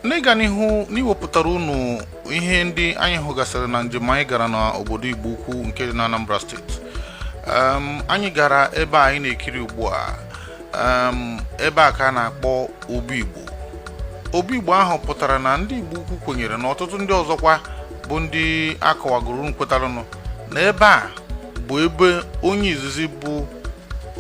n'ịga n'ihu n'iwepụtara unu ihe ndị anyị hụgasịrị na njem anyị gara n'obodo Igbo Ukwu nke dị n'Anambra steeti anyị gara ebe a anyị na-ekiri ugbu a ebe a ka a na-akpọ Obu Igbo Obu Igbo ahụ pụtara na ndị Igbo Ukwu kwenyere na ọtụtụ ndị ọzọkwa bụ ndị akọwagoro kwetaranụ na ebe a bụ ebe onye izizi bụ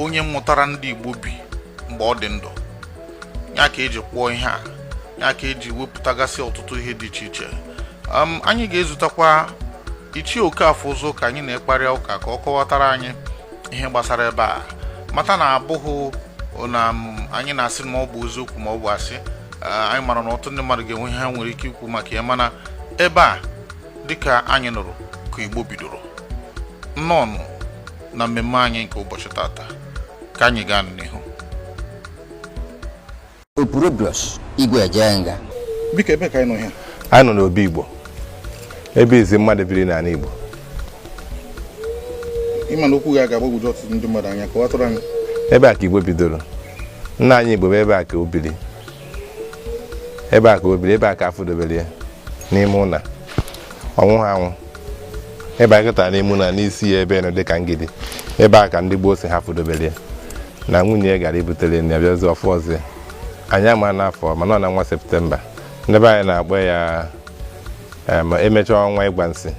onye mụtara ndị Igbo bi mgbe ọ dị ndụ ya ka eji kpụọ ihe a ya ka eji wepụtagasị ọtụtụ ihe dị iche iche um, anyị ga-ezutakwa ichie Okafọụzụ ka anyị na-ekparịa ụka ka ọ kọwatara anyị ihe gbasara ebe a mata na abụghị na um, anyị na-asị na ọ bụ eziokwu ma ọ bụ asị uh, anyị mara na ọtụtụ ndị mmadụ ga-enwe ihe ha nwere ike ikwu maka ya mana ebe a dịka anyị nụrụ ka igbo bidoro nnọọ na mmemme anyị nke ụbọchị tata ka anyị gaa n'ihu Opurobios Igwe Ejenga biko ebee ka anyị nọ ee anyị nọ n'obi igbo ebe izi mmadụ biri n'ana igbo ịma na okwu gị a ga-agbagwoju ọtụtụ ndị mmadụ anya kọwatụrụ anyị ebe a ka igbo bidoro nna anyị igbo bụ ebe a ka o biri ebe a ka o biri ebe a ka afụdobere ya n'ime ụlọ ọ nwụha anwụ ebe anyị kọtara n'ime na n'isi ya ebe nụ dị ka ngidi ebe a ka ndị gboo sị ha fụdobere ya na nwunye ya gara ibutere ya nni bịazi ọ fụọzi ya anya ma n'afọ mana n'ọnwa septemba ndị be anyị na-akpọ ya em, emechaa ọnwa ịgwa nsị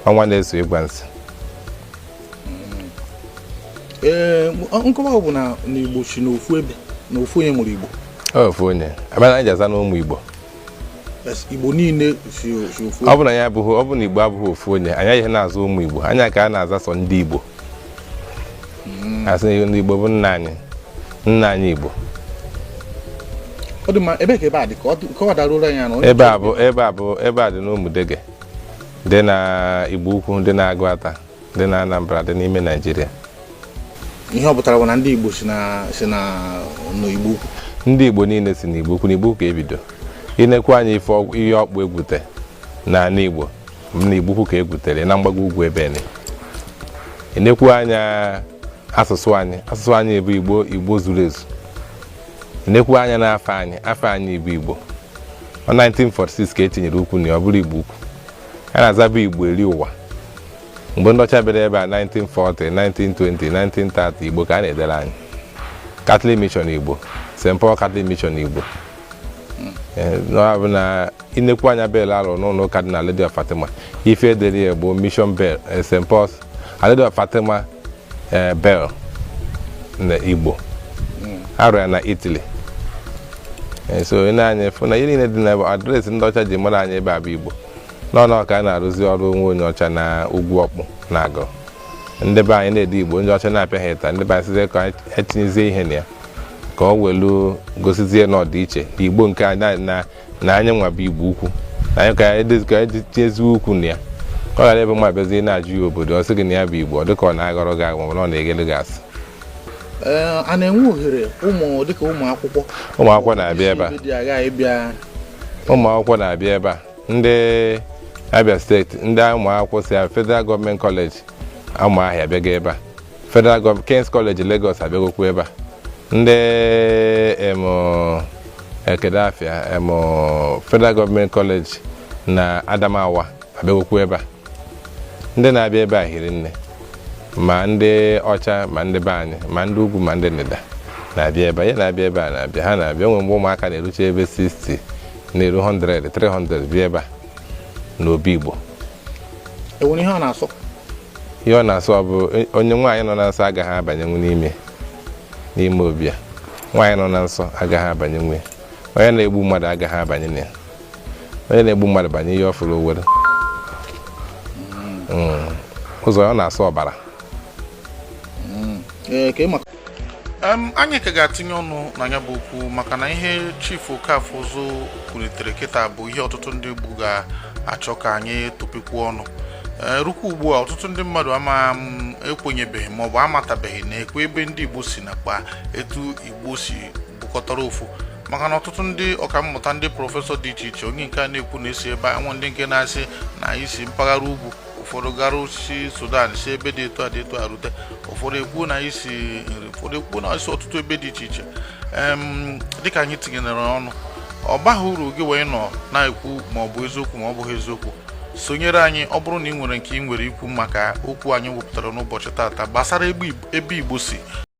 ọnwa na-eso ịgwa nsị ee nkọwa ọ bụ na igbo si n'ofu ebe na ofu onye mụrụ igbo ofu onye ọ bụ ya na anyị ji aza n'ụmụ igbo igbo niile si ofu ọ bụrụ anyị abụghị ọ bụrụ na igbo abụghị ofu onye anyị ihe na-aza ụmụ igbo anyị aka na-aza sọ ndị igbo hmm. asị na ndị igbo bụ nna anyị nna anyị igbo ebe a dị ka o doruru anya ebe a bụ ebe a bụ ebe a dị n'ụmụdege dị na igbo ukwu dị na Aguata dị na Anambra dị n'ime Naijiria ihe ọ pụtara bụ na ndị Igbo si na si na n'Igbo ukwu ndị Igbo niile si n'Igbo ukwu Igbo ukwu ka ebido inekwu anya ihe ọkpụ egwute n'ana Igbo na Igbo ukwu ka egwutere na mgbago ugwu ebe ni inekwu anya asụsụ anyị asụsụ anyị bụ Igbo Igbo zuru ezu inekwu anya n'afa anyị afa anyị bụ Igbo ọ 1946 ka etinyere ukwu na ọ bụrụ Igbo ukwu anyị na-azabu igbo eri ụwa mgbe ndị ọcha bịara ebe a 1940 1920 1930 igbo ka a na-edere anyị Catholic Mission igbo St Paul Catholic Mission igbo Eh, na ọ bụ na inekwu anya bell ahụ n'ụnọ ụka dị na Lady of Fatima ife edere ya bụ Mission Bell eh, St Paul's Our Lady of Fatima eh, Bell na Igbo a rụ ya na Italy eh, so i nee anya ị fụ na ihe niile dị na adreesị ndị ọcha ji mara anyị ebe a bụ Igbo n'ọnụ ọka a na-arụzi ọrụ o nwee onye ọcha na ugwu ọkpụ na agụ ndị be anyị na-ede Igbo ndị ọcha na-apịa ha ịta ndị be anyị sịzie ka anyị tinyezie ihe na ya ka o welu gosizie na ọ dị iche na Igbo nke anyị na- na na anyị nwa bụ Igbo Ukwu na anyị ka anyị dozi- ka anyị tinyeziwe ukwu na ya ọ ghara ebe nwa bịazie na-ajụ ya obodo ọ sị gị na ya bụ Igbo ọ dịka ọ na-aghọrọ gị aghụghọ ma ọ bụ na ọ na-aghalụ gị asị Ee, a na-enwe ohere ụmụ dịka ụmụ akwụkwọ ụmụ akwụkwọ na-abịa ebe a dị agha ịbịa ụmụ akwụkwọ na-abịa ebe a ndị Abịa State ndị ụmụ akwụkwọ si Federal Government College Ụmụahịa bịaga ebe a Federal Government King's College Lagos abịagokwu ebe a ndị em kedụ afa ya em Federal Government College na Adamawa abịagokwu ebe a ndị na-abịa ebe a hiri nne ma ndị ọcha ma ndị be anyị ma ndị ugwu ma ndị ndịda na-abịa ebe a ya na-abịa ebe a na-abịa ha na-abịa o nwee mgbe ụmụaka na-erucha ebe 60 na-eru 100 300 bịa ebe a n'obi Igbo e nwere ihe ọ na-asọ ihe ọ na-asọ bụ onye nwaanyị nọ na nsọ agaghị abanyenwu n'ime n'ime obi a nwaanyị nọ na nsọ agaghị abanyenwu onye na-egbu mmadụ agaghị abanye na ya onye na-egbu mmadụ banye ihe ọ fụrụ o were ọzọ ọ na-asọ ọbara anyị ka ga-atinye ọnụ na ya bụ okwu maka na ihe Chief Okafọuzu kwulitere kịta bụ ihe ọtụtụ ndị Igbo ga-achọ ka anyị tụpịkwuo ọnụ Eh, rukwa ugbu a ọtụtụ ndị mmadụ ama mm, ekwenyebeghị ma ọ bụ amatabeghị na ekwe ebe ndị Igbo si nakwa etu Igbo si bụkọtara ofu maka na ọtụtụ ndị ọkammụta ndị prọfesọ dị iche iche onye nke a na-ekwu na e si ebe anwa ndị nke na-asị na anyị si mpaghara ugwu ụfọdụ gara si Sudan si ebe dị etu a dị etu a rute ụfọdụ ekwu na anyị si Nri ụfọdụ ekwu na anyị si ọtụtụ ebe dị iche iche Em, dịka anyị tinyere ọnụ ọ baghị uru gị nwa ịnọ na-ekwu ma ọ bụ eziokwu ma ọ bụghị eziokwu sonyere anyị ọ bụrụ na ị nwere nke ị nwere ikwu maka okwu anyị wepụtara n'ụbọchị tata gbasara ebe Igbo- ebe Igbo si